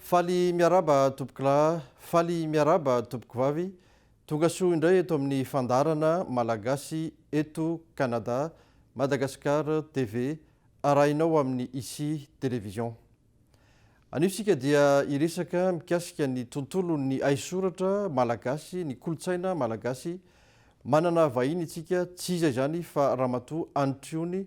Faly miaraba tompoklah. Faly miaraba tompoko vavy. Tonga soa indray eto amin'ny fandaharana Malagasy eto Canada, Madagascar TV arahinao amin'ny Ici Télévision. Anio isika dia hiresaka mikasika ny tontolon'ny haisoratra malagasy, ny kolontsaina malagasy. Manana vahiny isika, tsy iza izany fa Ramatoa Anitriony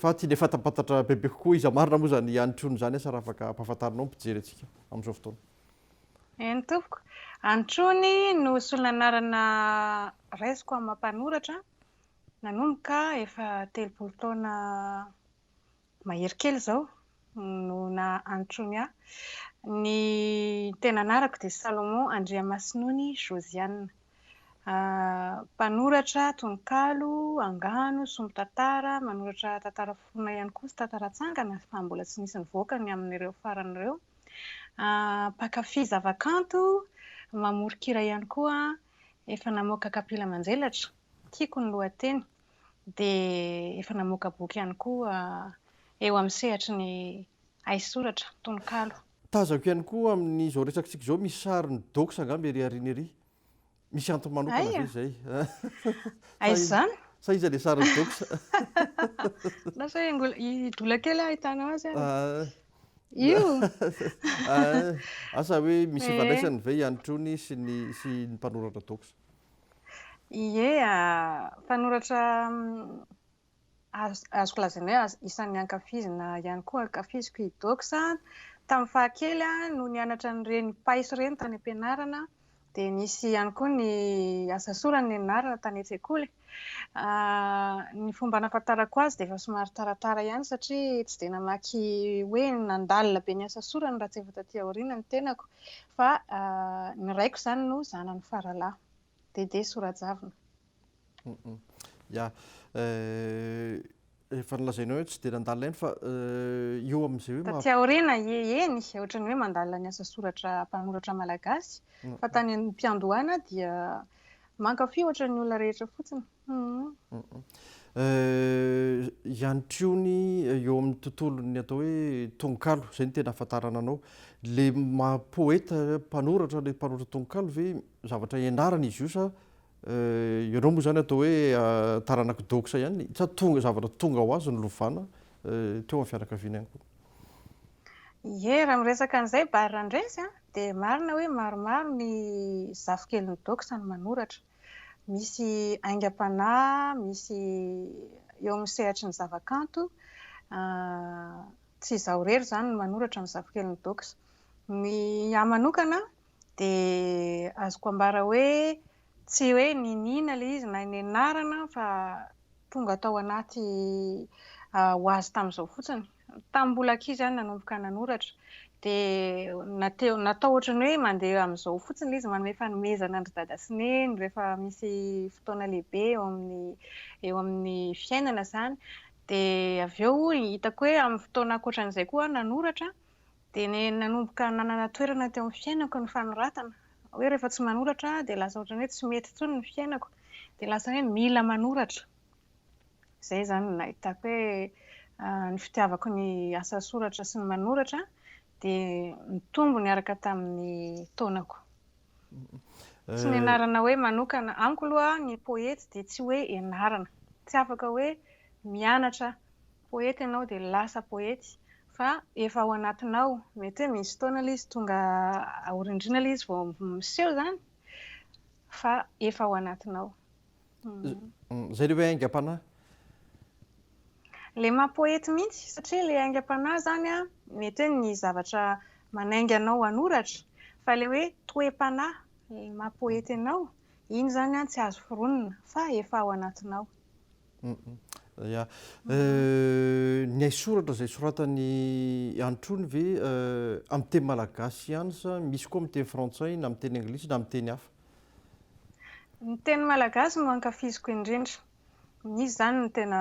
Faty dia fantampantatra bebe kokoa iza marina moa izany Anitro ny izany asa raha afaka ampahafantarinao ny mpijery antsika amin'izao fotoana. Eny tompoko, Anitrony no solon'anarana raisiko amin'ny maha mpanoratra nanomboka efa telopolo taona mahery kely izao no naha-antony ahy. Ny tena anarako dia Salomon Andriamasinony Josiane. Mpanoratra tononkalo, angano, sombin-tantara, manoratra tantara forona ihany koa sy tantara atsangana fa mbola tsy nisy nivoaka ny amin'ireo farany ireo. Mpankafy zavakanto, mamoron-kira ihany koa. Efa namoaka kapila manjelatra, Tiako ny lohateny. dia efa namoaka boky ihany koa eo amin'ny sehatry ny haisoratra, tononkalo. Tazako ihany koa amin'izao resakitsika izao misy sarin'i Dox angamba ery aoriana ery. Misy antony manokana ve izay? Aiza izany? Sa iza ilay sarin'i Dox? Na sao hidola kely aho hahitana azy ary. Io? Asa hoe misy ifandraisany ve i Andry Trony sy ny mpanoratra Dox? Ie, mpanoratra azoko lazaina hoe isan'ny ankafizina ihany koa, ankafiziko i Dox. Tamin'ny fahakely aho no nianatra an'ireny pais ireny tany am-pianarana, dia nisy ihany koa ny asasorany nianarana tany an-tsekoly. Ny fomba nahafantarako azy dia efa somary taratara ihany satria tsy dia namaky hoe nandalina be ny asasorany raha tsy efa tatỳ aoriana ny tenako. Fa ny raiko izany no zanany faralahy. Dédé Sorajavona. Ya. Efa nolazainao hoe tsy dia nandalina ihany fa eo amin'izay hoe... Taty aoriana, eny, ohatran'ny hoe mandalina ny asa soratra mpanoratra malagasy. Fa tany am-piandohana dia mankafy ohatran'ny olona rehetra fotsiny. Ihany koa ny eo amin'ny tontolon'ny atao hoe tononkalo, izay no tena ahafantarana anao. Ilay maha poeta, mpanoratra ilay mpanoratra tononkalo ve zavatra ianarana izy io sa ianao moa izany atao hoe taranak'i Doxa ihany sa tonga, zavatra tonga ho azy no lovana teo amin'ny fianakaviana ihany koa? Ie, raha miresaka an'izay Barry Randresy dia marina hoe maromaro ny zafikeliny Doxa no manoratra. Misy aingam-panahy, misy eo amin'ny sehatry ny zavakanto. Tsy izaho irery izany no manoratra ny Zafikeliny Dox. Ny ahy manokana dia azoko ambara hoe tsy hoe niniana ilay izy na nianarana fa tonga tao anaty ho azy tamin'izao fotsiny. Tamin'ny mbola ankizy aho no nanomboka nanoratra, dia natao ohatran'ny hoe mandeha amin'izao fotsiny ilay izy, manome fanomezana an-dry dada sy neny rehefa misy fotoana lehibe eo amin'ny eo amin'ny fiainana izany. Dia avy eo hitako hoe amin'ny fotoana ankoatran'izay koa aho nanoratra, dia nanomboka nanana toerana teo amin'ny fiainako ny fanoratana. Hoe rehefa tsy manoratra aho dia lasa ohatran'ny hoe tsy mety intsony ny fiainako, dia lasa hoe mila manoratra. Izay izany no nahitako hoe ny fitiavako ny asa soratra sy ny manoratra dia nitombo niaraka tamin'ny taonako. Tsy ny anarana hoe manokana. Amiko aloha ny poety dia tsy hoe ianarana. Tsy afaka hoe mianatra poety ianao dia lasa poety fa efa ao anatinao. Mety hoe misy fotoana ilay izy tonga aorindrina ilay izy vao miseho izany fa efa ao anatinao. Zay le hoe aingam-panahy. Le maha poety mihitsy satria le aingam-panahy zany a, mety hoe ny zavatra manainga anao hanoratra, fa le hoe toe-panahy, le maha poety anao, iny zany a tsy azo foronina fa efa ao anatinao. Ya. Ny haisoratra izay soratan'i Androny ve amin'ny teny malagasy ihany sa misy koa amin'ny teny frantsay na amin'ny teny anglisy na amin'ny teny hafa? Ny teny malagasy no ankafiziko indrindra. Izy izany no tena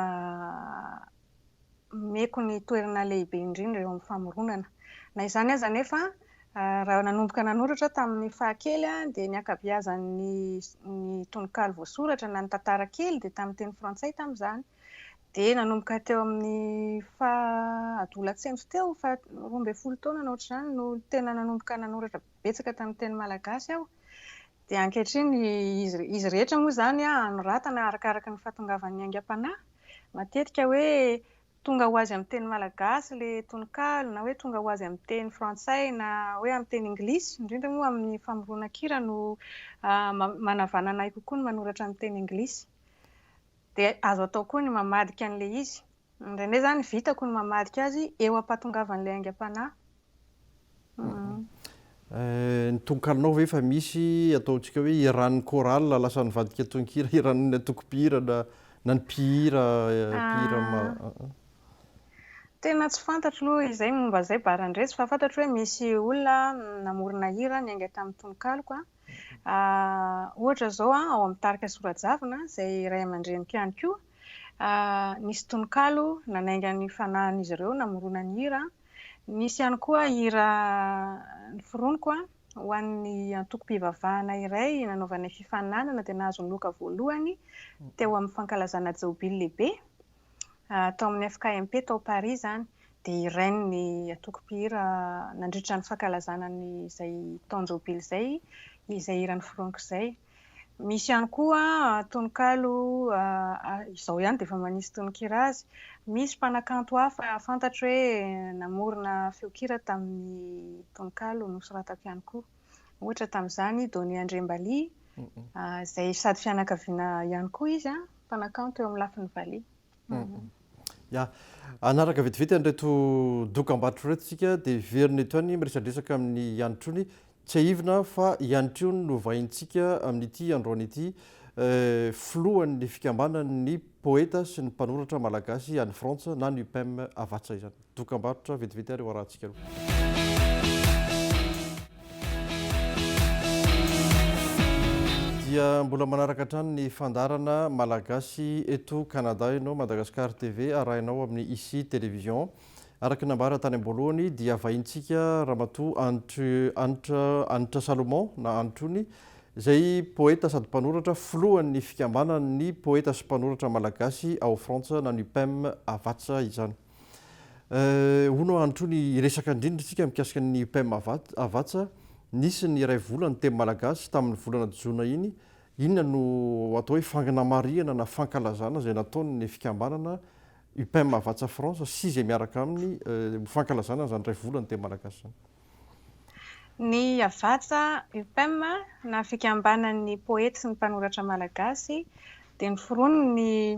omeko ny toerana lehibe indrindra eo amin'ny famoronana. Na izany aza anefa, raha nanomboka nanoratra aho tamin'ny fahakely dia ny ankabeazan'ny tononkalo voasoratra na ny tantara kely dia tamin'ny teny frantsay tamin'izany. Dia nanomboka teo amin'ny faha adolatsento teo, faha roa ambin'ny folo taona na ohatr'izany no tena nanomboka nanoratra betsaka tamin'ny teny malagasy aho dia ankehitriny izy rehetra moa izany anoratana arakaraka ny fahatongavan'ny aingam-panahy, matetika hoe tonga ho azy amin'ny teny malagasy ilay tononkalo na hoe tonga ho azy amin'ny teny frantsay na hoe amin'ny teny anglisy, indrindra moa amin'ny famoronan-kira no manavanana ahy kokoa ny manoratra amin'ny teny anglisy. Dia azo atao koa ny mamadika an'ilay izy Indraindray izany vitako ny mamadika azy eo am-pahatongavan'ilay aingam-panahy. Ny tononkalonao ve efa misy ataontsika hoe hiran'ny chorale lasa nivadika tononkira hiran'ny antokom-pihira na na ny mpihira mpihira ma- Tena tsy fantatro aloha izay momba izay baran-drezy fa fantatro hoe misy olona namorona hira niainga tamin'ny tononkaloko. Ohatra izao ao amin'ny tarika Sorajavona izay ray aman-dreniko ihany koa Nisy tononkalo nanainga ny fanahin'izy ireo namorona ny hira. Nisy ihany koa hira noforoniko ho an'ny antokom-pivavahana iray nanaovanay fifaninanana dia nahazo ny loka voalohany teo amin'ny fankalazana Jaobily lehibe tao amin'ny FKMP tao Paris izany. Dia hirainy ny antoko mpihira nandritra ny fankalazana an'izay taon-jaobily izay izay hira noforoniko izay. Misy ihany koa tononkalo izao ihany dia efa manisy tononkira azy. Misy mpanakanto hafa fantatro hoe namorona feonkira tamin'ny tononkalo nosoratako ihany koa. Ohatra tamin'izany i Donny Andriambali, izay sady fianakaviana ihany koa izy, mpanakanto eo amin'ny lafiny valiha. Ya, hanaraka vetivety an'ireto dokam-barotra ireto isika dia hiverina eto ihany miresadresaka amin'ny Ianitrony. Tsiahivina fa Ianitrony no vahintsika amin'ity androany ity, filohan'ny fikambanan'ny poeta sy ny mpanoratra malagasy any Frantsa na ny UPEM Havatsa izany. Dokambarotra vetivety ary hoarahantsika aloha. Dia mbola manaraka hatrany ny fandaharana Malagasy eto Canada ianao, Madagascar TV arahinao amin'ny Ici Télévision. Araka ny nambara tany am-boalohany dia vahintsika Ramatoa Anitry Anitra Anitra Salomon na Anitrony izay poeta sady mpanoratra, filohan'ny fikambanan'ny poeta sy mpanoratra malagasy ao Frantsa na ny UPEM Havatsa izany. Hono aho androtr'io ny hiresaka indrindra isika mikasika ny IPM Havatsa. Nisy ny iray vola ny teny malagasy tamin'ny volana jona iny. Inona no atao hoe fangnamarihana na fankalazana izay nataon'ny fikambanana IPM Havatsa France sy izay miaraka aminy ho fankalazana an'izany iray vola ny teny malagasy izany? Ny Havatsa, IPM, na Fikambanan'ny Poety sy ny Mpanoratra Malagasy dia ny foronon'ny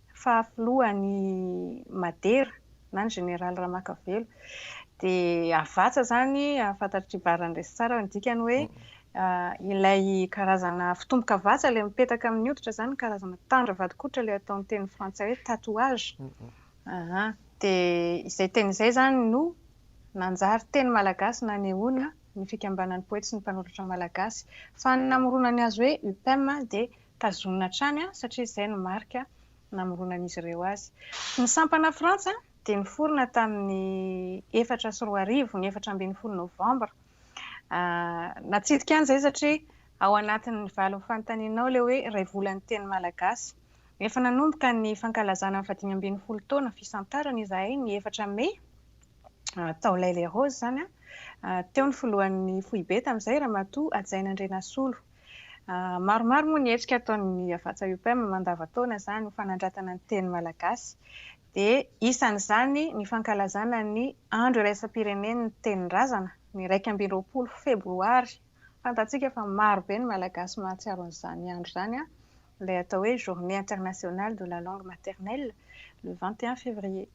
faha filohan' i Madera na ny Jeneraly Ramakavelo. Dia Havatsa izany, fantatr'i Bara Andresy tsara ny dikany hoe ilay karazana fitombo-kavatsa, ilay mipetaka amin'ny hoditra izany, karazana tandra vadin-koditra ilay atao amin'ny teny frantsay hoe tatouage. Aha. Dia izay teny izay izany no nanjary teny malagasy nanehoana ny fikambanan'ny poety sy ny mpanoratra malagasy. Fa ny namoronany azy hoe UPEM dia Tazonina hatrany satria izay no marika namoronan'izy ireo azy. Ny sampanà Frantsa dia niforona tamin'ny efatra sy roa arivo, ny efatra ambin'ny folo Novambra. Natsidika an' izay satria ao anatin'ny valin'ny fanontanianao ilay hoe iray volan'ny teny malagasy. Efa nanomboka ny fankalazana ny fahadimy ambin'ny folo taona fisantarana izahay ny efatra Mey, tao L'Haye-les-Roses izany. Teo ny filohan'ny foibe tamin'izay, Ramatoa Hajaina Andrianasolo. Maromaro moa ny hetsika ataon'ny Havatsa Upem mandavan-taona izany ho fanandratana ny teny malagasy. Dia isan'izany ny fankalazana ny Andro iraisam-pirenen'ny Tenin-drazana, ny iraika amby roapolo febroary. Fantatsika fa marobe ny Malagasy mahatsiaro an'izany andro izany, ilay atao hoe Journée internationale de la langue maternelle, le vingt et un février.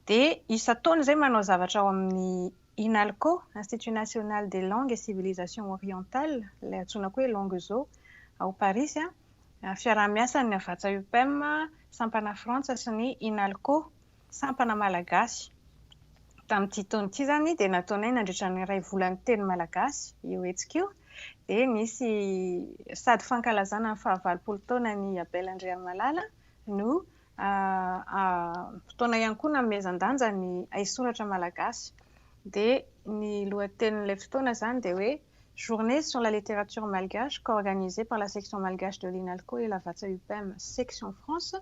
Dia isan-taona izay manao zavatra ao amin'ny Inalco, Institut National des Langues et Civilisations Orientales, ilay antsoina koa hoe Languezo, ao Parisy, fiaraha-miasan'ny Havàtsa-Upem, sampana Frantsa sy ny Inalco, sampana malagasy. Tamin'ity taona ity izany dia nataonay nandritra ny iray volan'ny teny malagasy io hetsika io dia nisy sady fankalazana ny fahavalopolo taonan'i Abel Andrianimalala no fotoana ihany koa nanomezan-danja ny haisoratra malagasy. Dia ny lohatenin'ilay fotoana izany dia hoe Journée sur la littérature malgache co-organisée par la section malgache de l'INALCO et Lavazza Upem section France,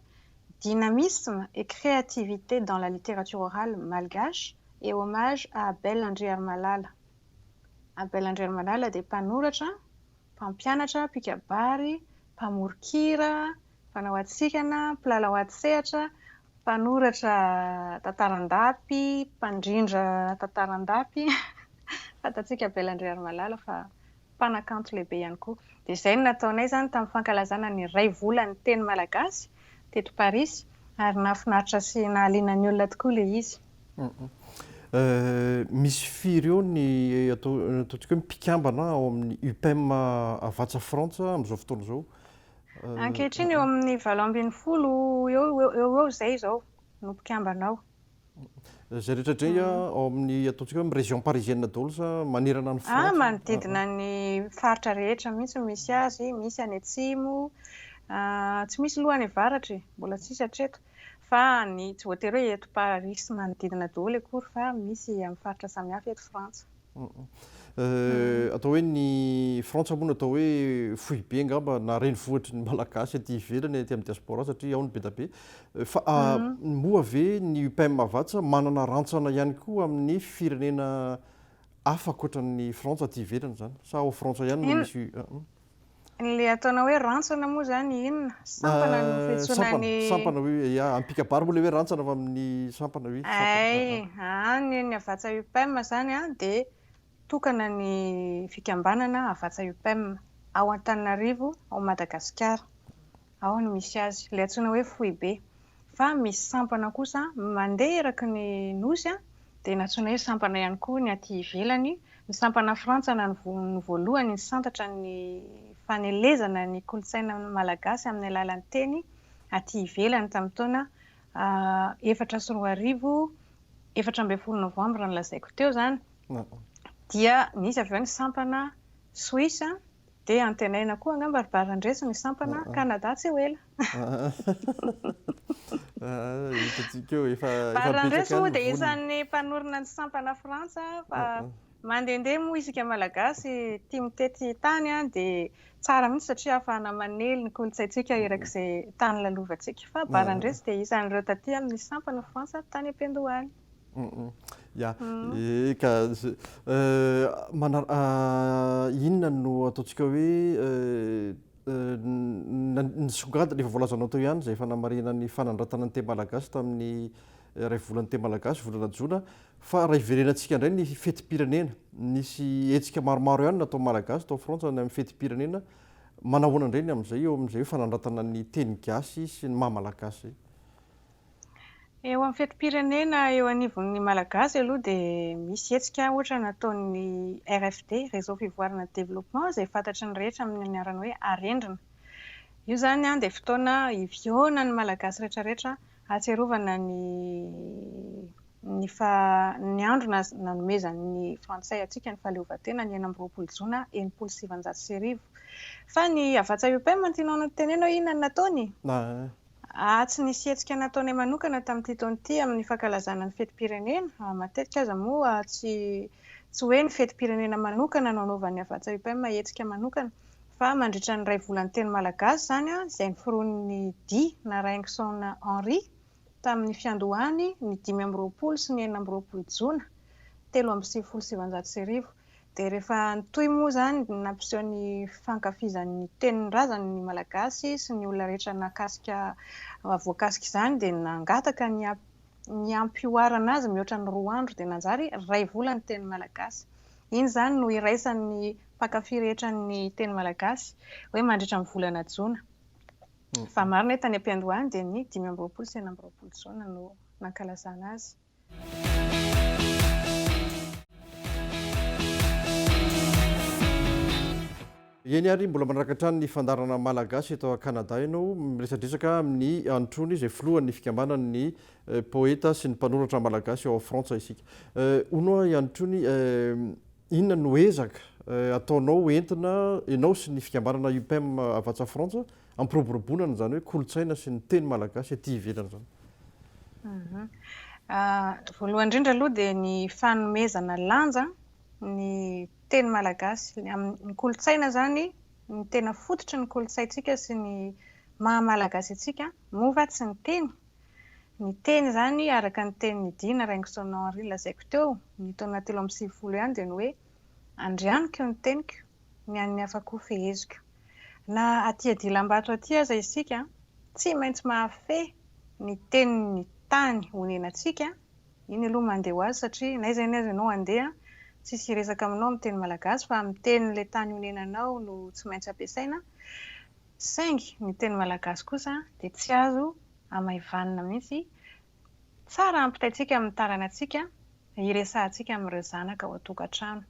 Dynamisme et créativité dans la littérature orale malgache et hommage à Abel Andriarimalala. Abel Andriarimalala dia mpanoratra, mpampianatra, mpikabary, mpamoron-kira, Mpanao hatsikana, mpilalao antsehatra, mpanoratra tantara an-dapy, mpandrindra tantara an-dapy, fantatsika Bella Andriarimalala fa mpanakanto lehibe ihany koa. Dia izay no nataonay izany tamin'ny fankalazana ny iray volan'ny teny malagasy teto Parisy ary nahafinaritra sy nahaliana ny olona tokoa ilay izy. Misy firy eo ny ataontsika hoe mpikambana ao amin'ny UPEM Havatsa Frantsa amin'izao fotoana izao? Ankehitriny eo amin'ny valo ambin'ny folo eo eo eo eo izay izao no mpikambana ao. Izay rehetra indray ao amin'ny ataontsika hoe région parisienne daholo sa manerana an'i Frantsa? Ah, manodidina ny faritra rehetra mihitsy misy azy, misy any atsimo, tsy misy aloha any avaratra e, mbola tsisy hatreto, fa ny tsy voatery hoe eto Parisy sy manodidina daholo akory fa misy amin'ny faritra samihafa eto Frantsa. Atao hoe ny Frantsa moa no atao hoe foibe angamba na renivohitry ny Malagasy aty ivelany, aty amin'ny diaspora satria ao no be dia be. Fa moa ve ny UPEM Havatsa manana rantsana ihany koa amin'ny firenena hafa ankoatran'ny Frantsa aty ivelany izany? Sa ao Frantsa ihany no misy? Ilay ataonao hoe rantsana moa izany inona? Sampana no fiantsoana ny. Sampana, oui, ya. Any Picabary moa ilay hoe rantsana fa amin'ny sampana, oui. Ay, any ny Havatsa Upem izany dia tokana ny fikambanana Havatsa Upem ao Antananarivo, ao Madagasikara. Ao no misy azy, ilay antsoina hoe foibe. Fa misy sampana kosa mandeha eraky ny Nosy, dia nantsoina hoe sampana ihany koa ny aty ivelany. Ny sampana frantsana no voalohany nisantatra ny fanelezana ny kolontsaina malagasy amin'ny alalan'ny teny aty ivelany tamin'ny taona efatra sy roa arivo, efatra ambin'ny folo novambra nolazaiko teo izany. Dia nisy avy eo ny sampana Suisse, Dia antenaina koa angamba ry Barandreso ny sampana Canada tsy ho ela. Hitantsika eo, efa betsaka ny vola. Barandreso moa dia isan'ny mpanorina ny sampana Frantsa fa mandehandeha moa isika Malagasy tia mitety tany dia tsara mihitsy satria ahafahana manely ny kolontsaintsika erak'izay tany lalovantsika. Fa Barandreso dia isan'ireo taty amin'ny sampana Frantsa tany am-piandohany. Ya, eka, inona no ataontsika hoe nisongadina, efa voalazanao teo ihany izay fanamarinana ny fanandratana ny Teamalagasy tamin'ny iray volan'ny Teamalagasy, volana jona, fa raha hiverenantsika indray ny fetim-pirenena, nisy hetsika maromaro ihany nataon'ny Malagasy tao Frantsa ny amin'ny fetim-pirenena, manahoana indray ny amin'izay eo amin'izay hoe fanandratana ny teny gasy sy ny maha Malagasy izay? Eo amin'ny fetim-pirenena eo anivon'ny Malagasy aloha dia misy hetsika ohatra nataon'ny RFD, Réseau Fivoarana Développement, izay fantatry ny rehetra amin'ny anarana hoe Arendrina. Io izany dia fotoana hiviônan'ny Malagasy rehetrarehetra hahatsiarovana ny ny faha ny andro nanomezan'ny frantsay antsika ny fahaleovantena ny enina amby roapolo jona enimpolo sy sivanjato sy arivo. Fa ny Havatsa-UPM no tianao notenenao inona no nataony? Ahy tsy nisy hetsika nataonay manokana tamin'ity taona ity amin'ny fankalazana ny fetim-pirenena. Matetika aza moa tsy tsy hoe ny fetim-pirenena manokana no anaovan'ny Havatsa UPEM hetsika manokana fa mandritra ny iray volan'ny teny malagasy izany izay noforonin'ny Dia Naraingison Henri tamin'ny fiandohany ny dimy amby roapolo sy ny enina amby roapolo jona telo amby sivifolo sy sivinjato sy arivo. Dia rehefa nitohy moa izany ny nampiseho ny fankafizany ny tenin'ny razany ny Malagasy sy ny olona rehetra nahakasika voakasika izany dia nangataka ny ny hampihoarana azy mihoatra ny roa andro dia nanjary iray vola ny teny Malagasy. Iny izany no iraisan'ny mpankafy rehetra ny teny Malagasy hoe mandritra ny volana jona. Fa marina hoe tany am-piandohany dia ny dimy amby roapolo sy enina amby roapolo jona no nankalazana azy. Eny ary mbola manaraka hatrany ny fandaharana Malagasy eto Canada ianao. Miresadresaka amin'ny Androny izay filohan'ny fikambanan'ny Poeta sy ny mpanoratra Malagasy ao Frantsa isika. Hono aho i Androny, inona no ezaka ataonao entina ianao sy ny fikambanana UPEM Havatsa Frantsa Ampiroboroboana izany hoe kolontsaina sy ny teny malagasy aty ivelany izany. Voalohany indrindra aloha dia ny fanomezana lanja ny teny malagasy. Ny kolontsaina izany, ny tena fototry ny kolontsaintsika sy ny maha malagasy antsika moa va tsy ny teny? Ny teny izany araka ny tenin'i Dina Raingisonao Henri lazaiko teo, ny taona telo amby sivifolo ihany dia ny hoe Andrianiko ny teniko, ny an'ny hafa koa feheziko. Na aty adilambato aty aza isika, tsy maintsy mahafehy ny tenin'ny tany onenantsika, iny aloha mandeha ho azy satria na izay na izay anao handeha, tsisy hiresaka aminao amin'ny teny malagasy fa amin'ny tenin'ilay tany onenanao no tsy maintsy ampiasaina, saingy ny teny malagasy kosa dia tsy azo hamaivanina mihitsy Tsara hampitaintsika amin'ny taranantsika hiresahantsika amin'ireo zanaka ao an-tokantrano.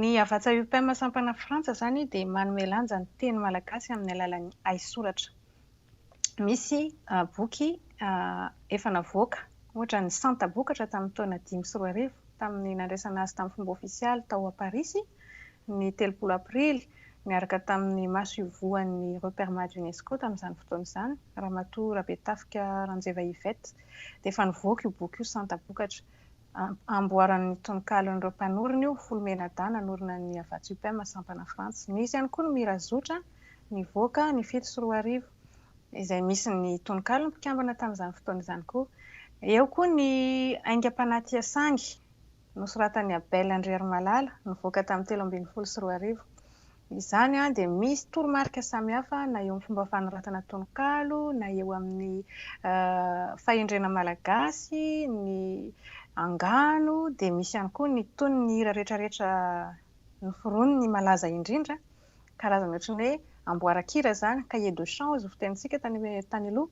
Ny Havatsa UPEM sampana Frantsa izany dia manome lanja ny teny malagasy amin'ny alalan'ny haisoratra. Misy boky efa navoaka, ohatra ny Santabokatra tamin'ny taona dimy sy roa arivo, tamin'ny nandraisana azy tamin'ny fomba ofisialy tao à Parisy, ny telopolo Aprily, niaraka tamin'ny maso ivohan'ny Reperma d'Unesco tamin'izany fotoana izany, Ramatoa Rabetafika Ranjeva Yvette, dia efa nivoaka io boky io santa-bokatra. Amboaran'ny tononkalon'ireo mpanorina io, Folo Menada nanorina ny Havatsa Upem sampana Frantsa. Nisy ihany koa ny Mirazotra, nivoaka ny fito sy roa arivo. izay misy ny tononkalon'ny mpikambana tamin'izany fotoana izany koa. Eo koa ny aingam-panahy Tia Sangy, nosoratan'i Abel Andriarimalala, nivoaka tamin'ny telo ambin'ny folo sy roa arivo. Izany dia misy toromarika samihafa na eo amin'ny fomba fanoratana tononkalo, na eo amin'ny fahendrena malagasy, ny angano, dia misy ihany koa ny tonony ny hira rehetrarehetra noforonin'ny malaza indrindra. karazana ohatry ny hoe amboaran-kira izany, cahier de chant hozy ny fitenintsika tany aloha.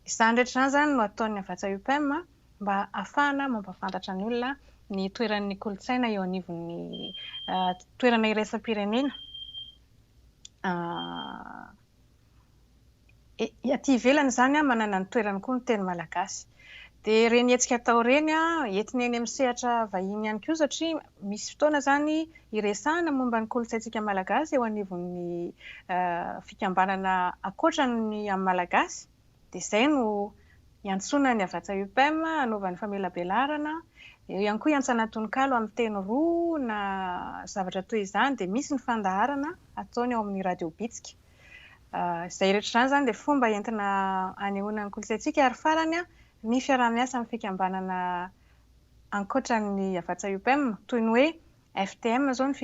Izany rehetra izany izany no ataon'ny Havàtsa UPEM mba hahafahana mampahafantatra ny olona ny toeran'ny kolontsaina eo anivon'ny toerana iraisam-pirenena. Aty ivelany izany manana ny toerany koa ny teny malagasy. Dia ireny hetsika atao ireny entina eny amin'ny sehatra vahiny ihany koa satria misy fotoana izany iresahana momba ny kolontsaintsika malagasy eo anivon'ny fikambanana ankoatra ny amin'ny malagasy. Dia izay no iantsoana ny Havatsa UPM hanaovany famelabelarana. Eo ihany koa iantsana tononkalo amin'ny teny roa na zavatra toy izany. Dia misy ny fandaharana ataony ao amin'ny Radio Bitsika. Izay rehetra izany izany dia fomba entina anehoana ny kolontsaintsika ary farany ny fiaraha-miasa amin'ny fikambanana ankoatra ny Havatsa-Upem toy ny hoe FTM izao ny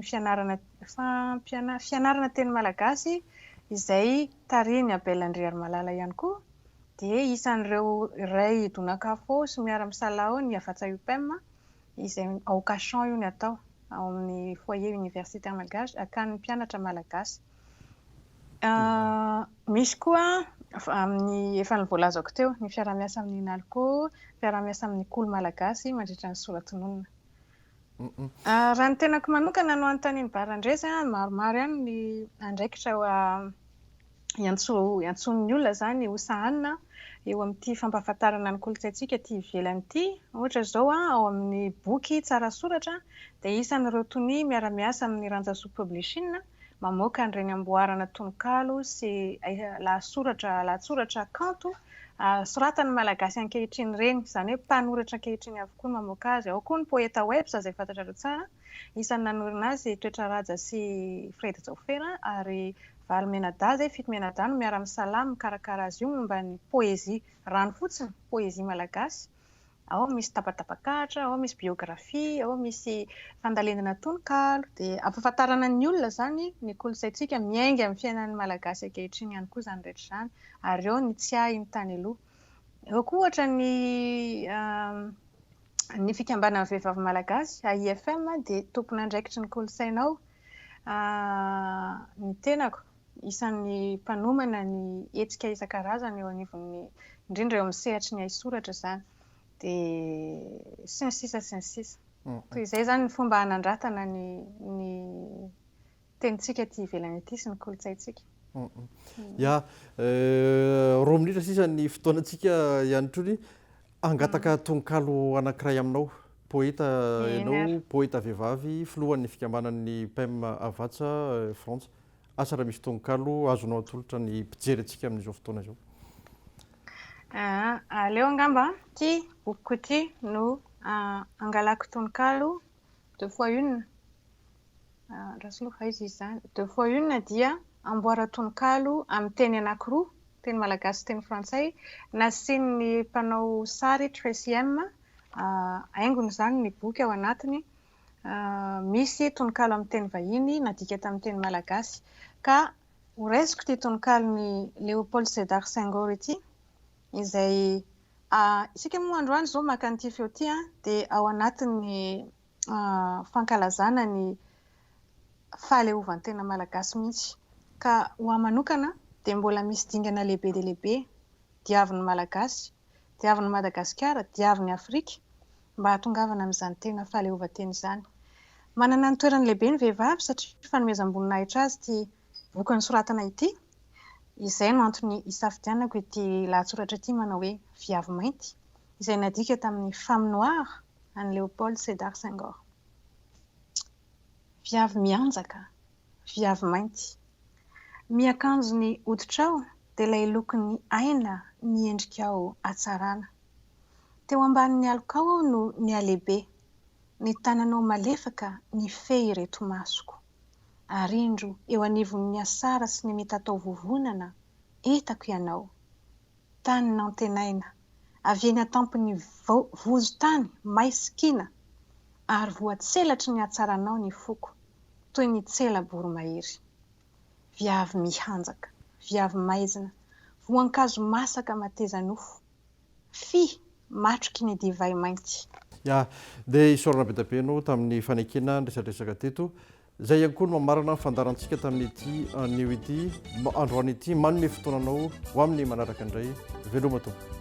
fianarana fampianarana fianarana teny malagasy izay tarihin'i Abel Andriarimalala ihany koa dia isan'ireo iray donakafo sy miara-misalaho ny Havatsa-Upem izay ao Cachan io ny atao, ao amin'ny Foyer Universitaire Malgache, akany mpianatra Malagasy. Misy koa amin'ny efa ny voalazako teo, ny fiaraha-miasa amin'ny Nalco, fiaraha-miasa amin'ny Kolo Malagasy mandritra ny soratononina. Raha ny tenako manokana no anontanian'i Barandresy, maromaro ihany ny andraikitra iantsoan'ny olona izany ho sahanina eo amin'ity fampahafantarana ny kolontsaintsika aty ivelany ity. Ohatra izao, ao amin'ny boky Tsara Soratra dia isan'ireo tonia miara-miasa amin'ny Rantsasoa Publishing mamoaka an'ireny amboarana tononkalo sy lahatsoratra lahatsoratra kanto soratan'ny Malagasy ankehitriny ireny, izany hoe mpanoratra ankehitriny avokoa no mamoaka azy. Ao koa ny Pôetawebs izay fantatrareo tsara, isan'ny nanorina azy Toetra Ràja sy Fred Jaofera ary valo mianadahy zay fito mianadahy no miara misalahy mikarakara azy io momba ny poezia rano fotsiny poezia malagasy ao misy tapatapak'ahitra ao misy biografia ao misy fandalendana tononkalo de ampafantarana ny olona zany ny kolontsaintsika miainga amin'ny fiainan'ny malagasy ankehitriny ihany koa zany rehetra zany ary eo ny tsiahy ny tany aloha eo koa ohatra ny euh, ny fikambanan'ny vehivavy malagasy AIFM dia tompon'andraikitry ny kolontsaina ao Ny tenako, isan'ny mpanomana ny hetsika isan-karazany eo anivon'ny, indrindra eo amin'ny sehatry ny haisoratra izany, dia sy ny sisa sy ny sisa. Toy izay izany ny fomba hanandratana ny ny tenintsika aty ivelany aty sy ny kolontsaintsika. Ya, roa minitra sisa ny fotoanantsika ihany koa. Hangataka tononkalo anankiray aminao. Poeta ianao, poeta vehivavy, filohan'ny fikambanan'ny Pem Havatsa Frantsa. Asa raha misy tononkalo azonao atolotra ny mpijery antsika amin'izao fotoana izao. Aleo angamba ity bokiko ity no angalako tononkalo deux fois une, Rasoloha fa aiza izy izany? deux fois une dia amboaran-tononkalo amin'ny teny anankiroa, teny malagasy sy teny frantsay, nasian'ny mpanao sary Tracy M haingony izany ny boky ao anatiny, misy tononkalo amin'ny teny vahiny nadika tamin'ny teny malagasy. Ka horaisiko ity tononkalon'i Léopold Sédar Senghor ity, izay a isika moa androany izao maka an'ity feo ity a dia ao anatin'ny fankalazana ny fahaleovantena malagasy mihitsy ka ho ahy manokana dia mbola misy dingana lehibe dia lehibe diavin'ny malagasy diavin'ny madagasikara diavin'ny afrika mba hatongavana amin'izany tena fahaleovantena izany manana ny toerany lehibe ny vehivavy satria fanomezam-boninahitra azy ity boky nosoratana ity Izay no antony isafidianako ity lahatsoratra ity manao hoe Viavy mainty, izay nadika tamin'ny Femme noire an'i Léopold Sédar Senghor. Viavy mianjaka, viavy mainty. Miakanjo ny hoditrao dia ilay lokon'ny aina miendrikao hatsarana. Teo ambanin'ny alokao aho no nihalehibe, ny tananao malefaka nifehy ireto masoko. Ary indro eo anivon'ny asara sy ny mety hatao vovonana, etako ianao. Tany nantenaina, avy eny an-tampon'ny vozon-tany may sy kiana, ary voatselatry ny hatsaranao ny foko, toy ny tsela boromahery. Viavy mihanjaka, viavy maizina, voankazo masaka mateza-nofo, Fy, matroky ny divay mainty. Ya, dia isaorana be dia be ianao tamin'ny fanekena ny resadresaka teto. Izay ihany koa no mamarana ny fandaharantsika tamin'ity anio ity, androany ity. Manome fotoana anao ho amin'ny manaraka indray. Veloma tompoko.